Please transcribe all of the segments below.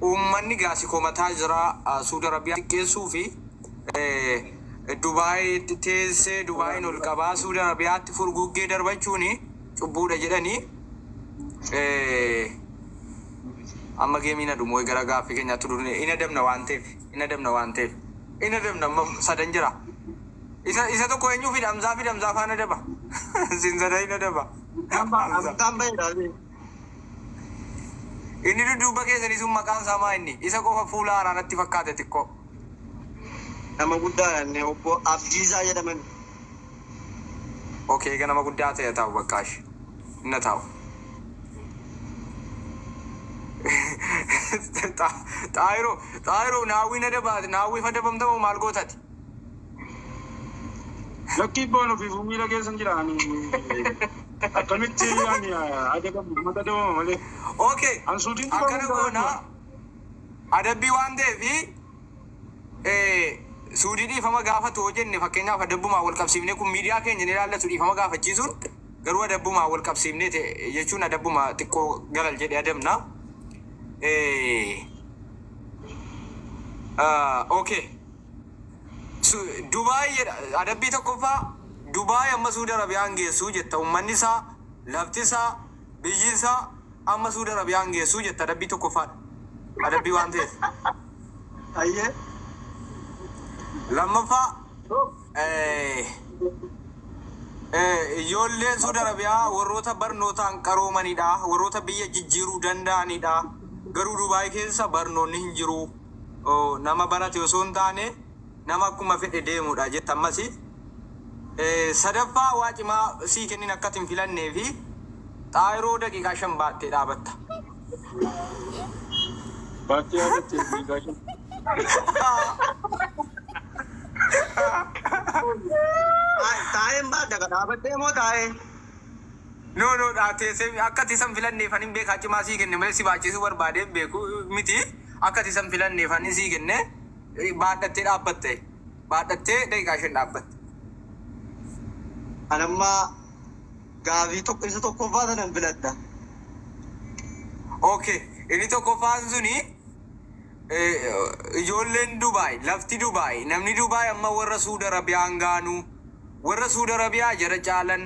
Uummanni gaasi komataa jira. Suudi Arabiyaa xiqqeessuu fi Dubaayitti teessee Dubaayiin ol qabaa Suudi Arabiyaatti furguggee darbachuun cubbuudha jedhanii amma geemiin adumoo gara gaaffii keenyaatti durne hin adabna waan ta'eef hin adabna waan ta'eef hin adabna amma sadan jira. Isa isa tokko eenyuu fi dhamzaa fi dhamzaa faan adaba. Sin sadan hin adaba. Hamzaa. Hamzaan baheera. Inni dudduubba keessanii sun maqaan isaa maa inni? Isa qofa fuula haaraa natti fakkaate xiqqoo. Nama guddaa dha inni obbo Abdiisaa jedhaman. Ok eega nama guddaa ta'e ataa'u baqqaa ishi hin ataa'u. Xaahiroo Xaahiroo naawwii na dabaate naawwiif adabamta moo maal goota ati? Lakkii ibboon ofiifuu miila keessa hin jira ani akkamitti ani adabamu uummata dabama malee Okay. an suutiin tuqamu Akkana hin goona. barbaadu. Adabbii waan ta'eef eh, suudii dhiifama gaafatu hoo jenne fakkeenyaaf adabbumaan wal qabsiifnee kun miidiyaa keenya ni ilaallatu dhiifama gaafachiisuun garuu adabbumaan wal qabsiifnee ta'e jechuun adabbuma xiqqoo galal jedhe adabna. Eh, ah, okay. Su- Dubaay jedha adabbii tokkoffaa Dubaay amma Suudi Arabiyaan geessuu jetta ummanni isaa lafti isaa biyyi isaa amma Suudi Arabiyaan geessuu jetta adabbii tokkoffaadha adabbii waan ta'eef Ayyee. lammaffaa eh, eh, ijoolleen Suudi Arabiyaa warroota barnootaan qaroomanidha warroota biyya jijjiiruu danda'anidha garuu Dubaay keessa barnoonni hin jiru nama barate osoo hin taane nama akkuma fedhe deemudha jette ammasi. Sadaffaa waa cimaa sii kennin akkati hin filannee fi xaayiroo daqiiqaa shan baattee dhaabatta. Baattee yaadatte daqiiqaa shan. Taa'een baatta ka dhaabattee moo taa'ee? No no teessee akkati isa hin filanneef ani hin beekaa cimaa sii kenne malee si baachisuu barbaadee hin beeku miti. Akka ati isa hin filanneef ani sii kenne baadhattee dhaabbatte. Baadhattee daqiiqaa shan dhaabbatte. Ani amma gaafii tokko isa tokkoffaa sana hin filadha. Okay, inni tokkoffaan suni ijoolleen Dubaay, lafti Dubaay, namni Dubaay amma warra Suud Arabiyaan gaanu, warra Suud Arabiyaa jara caalan,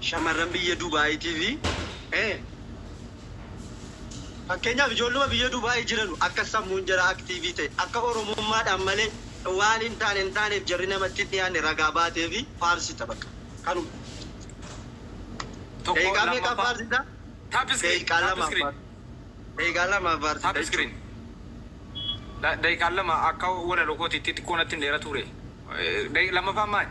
Shamarran biyya Dubaayiitiif Fakkeenyaaf ijoolluma biyya Dubaayii jiranu akka sammuun jaraa aktiivii ta'e, akka Oromummaadhaan malee waan hin taane hin taaneef jarri namatti hin dhiyaanne ragaa baateefi faarsita baqa. Kanuma. Daqiiqaa meeqaaf faarsita? Daqiiqaa lamaaf faarsita. Daqiiqaa lamaaf faarsita jechuudha. Daqiiqaan lama akka walaloo kootiitti xiqqoo natti hin dheeratuuree? Lammaffaan maali?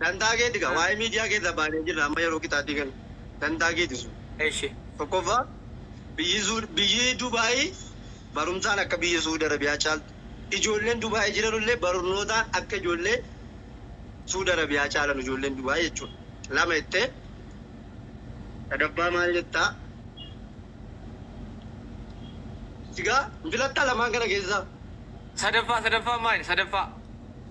Dantaa keeti gaa waa'ee miidiyaa keessaa baanee jirra amma yeroo qixaaxii kana dantaa keeti sun. Eshi. Tokkoffaa biyyi Suud biyyi Dubaayii barumsaan akka biyya Suud Arabiyaa caaltu ijoolleen Dubaayii jiranullee barnootaan akka ijoollee Suud Arabiyaa caalan ijoolleen Dubaayii jechuudha. Lama jettee sadaffaa maal jettaa? Sigaa hin filattaa lamaan kana keessaa? Sadaffaa sadaffaa maali sadaffaa?